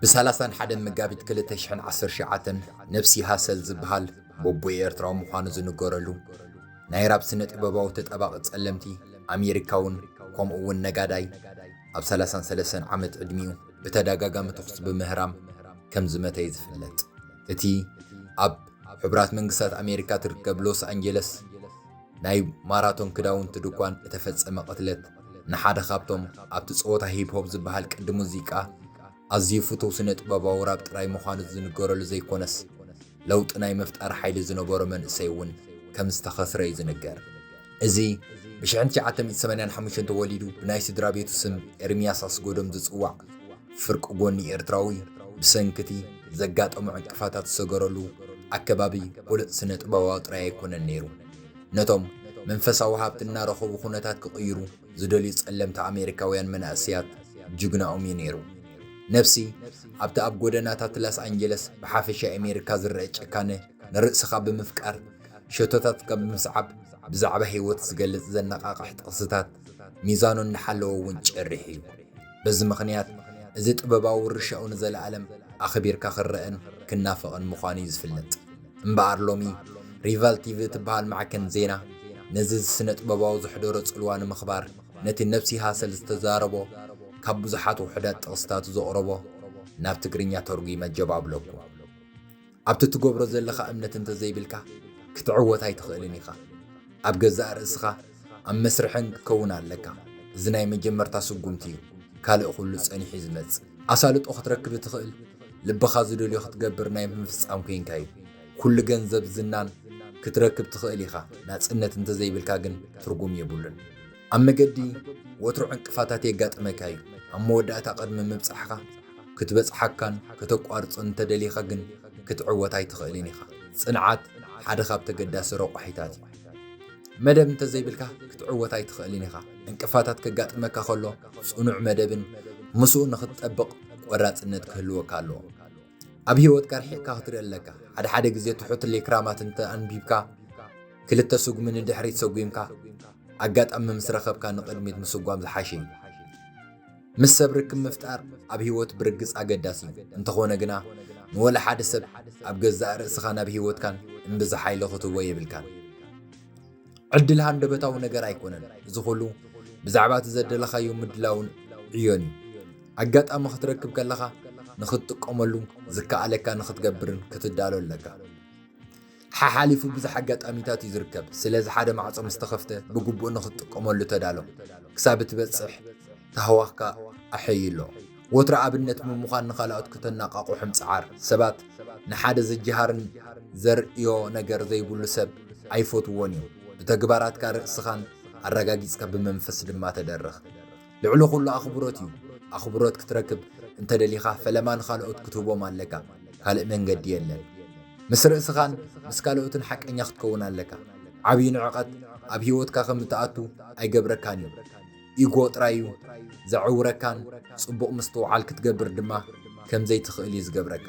ብሳላሳን ሓደን መጋቢት 219 ነብሲ ሃሰል ዝበሃል ቦቦይ ኤርትራዊ ምዃኑ ዝንገረሉ ናይ ራብ ስነ ጥበባዊ ተጠባቂ ጸለምቲ ኣሜሪካውን ከምኡ እውን ነጋዳይ ኣብ 33 ዓመት ዕድሚኡ ብተደጋጋሚ ተኹስ ብምህራም ከም ዝመተይ ዝፍለጥ እቲ ኣብ ኣብ ሕቡራት መንግስታት ኣሜሪካ ትርከብ ሎስ ኣንጀለስ ናይ ማራቶን ክዳውንቲ ድኳን እተፈጸመ ቅትለት ንሓደ ካብቶም ኣብቲ ጸወታ ሂፕሆፕ ዝበሃል ቅዲ ሙዚቃ ኣዝዩ ፍቱው ስነ-ጥበባዊ ራብ ጥራይ ምዃኑ ዝንገረሉ ዘይኮነስ ለውጢ ናይ ምፍጣር ሓይሊ ዝነበሮ መንእሰይ እውን ከም ዝተኸስረ እዩ ዝንገር። እዚ ብሽሕን ትሽዓተ ሚእቲ ሰማንያን ሓሙሽተን ተወሊዱ ብናይ ስድራ ቤቱ ስም ኤርምያስ ኣስጎዶም ዝጽዋዕ ፍርቂ ጎኒ ኤርትራዊ ብሰንኪቲ ዘጋጠሞ ዕንቅፋታት ዝሰገረሉ ኣከባቢ ብሉጽ ስነ-ጥበባዊ ጥራይ ኣይኮነን ነይሩ ነቶም መንፈሳዊ ሃብቲ እናረኸቡ ኩነታት ክቕይሩ ዝደልዩ ጸለምቲ ኣሜሪካውያን መናእሰያት ጅግናኦም እዩ ነይሩ። ነፍሲ ኣብቲ ኣብ ጎደናታት ላስ ኣንጀለስ ብሓፈሻ ኤሜሪካ ዝረኣ ጭካነ ንርእስኻ ብምፍቃር ሸቶታት ከም ምስዓብ ብዛዕባ ህይወት ዝገልጽ ዘነቓቕሕ ጥቕስታት ሚዛኑ እናሓለወ እውን ጭርሕ እዩ። በዚ ምኽንያት እዚ ጥበባዊ ውርሻኡ ንዘለኣለም ኣኽቢርካ ክረኣን ክናፈቕን ምዃኑ እዩ ዝፍለጥ። እምበኣር ሎሚ ሪቫል ቲቪ እትበሃል ማዕከን ዜና ነዚ እዚ ስነጥበባዊ ዘሕደሮ ጽልዋ ንምኽባር ነቲ ነብሲ ሃሰል ዝተዛረቦ ካብ ብዙሓት ውሑዳት ጥቕስታቱ ዘቕረቦ ናብ ትግርኛ ተርጒመ ጀብ ኣብለኩ። ኣብቲ እትገብሮ ዘለኻ እምነት እንተ ዘይብልካ፣ ክትዕወት ኣይትኽእልን ኢኻ። ኣብ ገዛእ ርእስኻ ኣብ መስርሕን ክትከውን ኣለካ። እዚ ናይ መጀመርታ ስጉምቲ እዩ፣ ካልእ ኹሉ ጸኒሑ'ዩ ዝመጽእ። ኣሳልጦ ክትረክብ እትኽእል፣ ልብኻ ዝደልዮ ክትገብር ናይ ምፍጻም ኴንካ እዩ። ኩሉ ገንዘብ ዝናን ክትረክብ ትኽእል ኢኻ፣ ናጽነት እንተ ዘይብልካ ግን ትርጉም የብሉን። ኣብ መገዲ ወትሩ ዕንቅፋታት የጋጥመካ እዩ። ኣብ መወዳእታ ቅድሚ ምብጻሕካ ክትበጽሓካን ከተቋርጾን እንተደሊኻ ግን ክትዕወት ኣይትኽእልን ኢኻ። ጽንዓት ሓደ ካብ ተገዳሲ ረቋሒታት እዩ። መደብ እንተዘይብልካ ክትዕወት ኣይትኽእልን ኢኻ። ዕንቅፋታት ከጋጥመካ ከሎ ጽኑዕ መደብን ምስኡ ንኽትጠብቕ ቆራጽነት ክህልወካ ኣለዎ። ኣብ ህይወትካ ርሒቕካ ክትርኢ ኣለካ። ሓደ ሓደ ግዜ ትሑት ሌክራማት እንተ ኣንቢብካ፣ ክልተ ስጉሚ ንድሕሪት ሰጒምካ ኣጋጣሚ ምስ ረኸብካ ንቕድሚት ምስጓም ዝሓሸ እዩ። ምስ ሰብ ርክብ ምፍጣር ኣብ ህይወት ብርግጽ ኣገዳሲ እዩ። እንተኾነ ግና ንወላ ሓደ ሰብ ኣብ ገዛእ ርእስኻን ኣብ ህይወትካን እምብዛ ሓይሊ ክትህቦ የብልካን። ዕድል ሃንደበታዊ ነገር ኣይኮነን። እዚ ኹሉ ብዛዕባ እቲ ዘደለኻዮ ምድላውን ዕዮን እዩ። ኣጋጣሚ ክትረክብ ከለኻ ንኽትጥቀመሉ ዝከኣለካ ንኽትገብርን ክትዳሎ ኣለካ። ሓሓሊፉ ብዙሕ ኣጋጣሚታት እዩ ዝርከብ። ስለዚ ሓደ ማዕጾ ምስ ተኸፍተ ብግቡእ ንኽትጥቀመሉ ተዳሎ። ክሳብ እትበጽሕ ታህዋኽካ ኣሐይሎ። ወትሩ ኣብነት ብምዃን ንኻልኦት ክተነቓቕሑ ምጽዓር። ሰባት ንሓደ ዝጀሃርን ዘርእዮ ነገር ዘይብሉ ሰብ ኣይፈትዉዎን እዮም። ብተግባራትካ ርእስኻን ኣረጋጊጽካ ብመንፈስ ድማ ተደረኽ። ልዕሊ ኹሉ ኣኽብሮት እዩ። ኣኽብሮት ክትረክብ እንተ ደሊኻ ፈለማ ንኻልኦት ክትህቦም ኣለካ። ካልእ መንገዲ የለን። ምስ ርእስኻን ምስ ካልኦትን ሓቀኛ ክትከውን ኣለካ። ዓብዪ ንዕቐት ኣብ ህይወትካ ከም እትኣቱ ኣይገብረካን እዩ። ኢጎ ጥራይ እዩ ዘዐውረካን ጽቡቕ ምስትውዓል ክትገብር ድማ ከም ዘይትኽእል እዩ ዝገብረካ።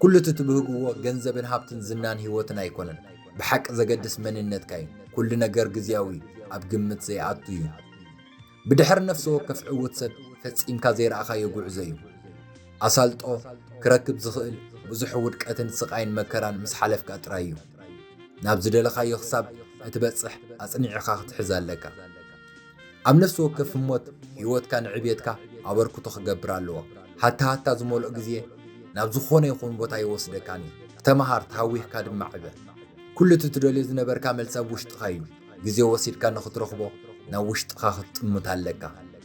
ኩሉ እቲ ትብህግዎ ገንዘብን ሃብትን ዝናን ህይወትን ኣይኮነን፣ ብሓቂ ዘገድስ መንነትካ እዩ። ኩሉ ነገር ግዝያዊ እዩ፣ ኣብ ግምት ዘይኣቱ እዩ። ብድሕሪ ነፍሲ ወከፍ ዕዉት ሰብ ፈጺምካ ዘይረኣኻዮ ጉዕዞ እዩ። ኣሳልጦ ክረክብ ዝኽእል ብዙሕ ውድቀትን ስቓይን መከራን ምስ ሓለፍካ ጥራይ እዩ። ናብ ዝደለኻዮ ክሳብ እትበጽሕ ኣጽኒዕኻ ክትሕዝ ኣለካ። ኣብ ነፍሲ ወከፍ ህሞት ህይወትካ ንዕብየትካ ኣበርክቶ ክገብር ኣለዎ። ሃታሃታ ዝመልኦ ግዜ ናብ ዝኾነ ይኹን ቦታ ኣይወስደካን እዩ። ተመሃር፣ ተሃዊኽካ ድማ ዕበ። ኩሉ እቲ ትደልዮ ዝነበርካ መልሲ ኣብ ውሽጥኻ እዩ። ግዜ ወሲድካ ንኽትረኽቦ ናብ ውሽጥኻ ክትጥምት ኣለካ።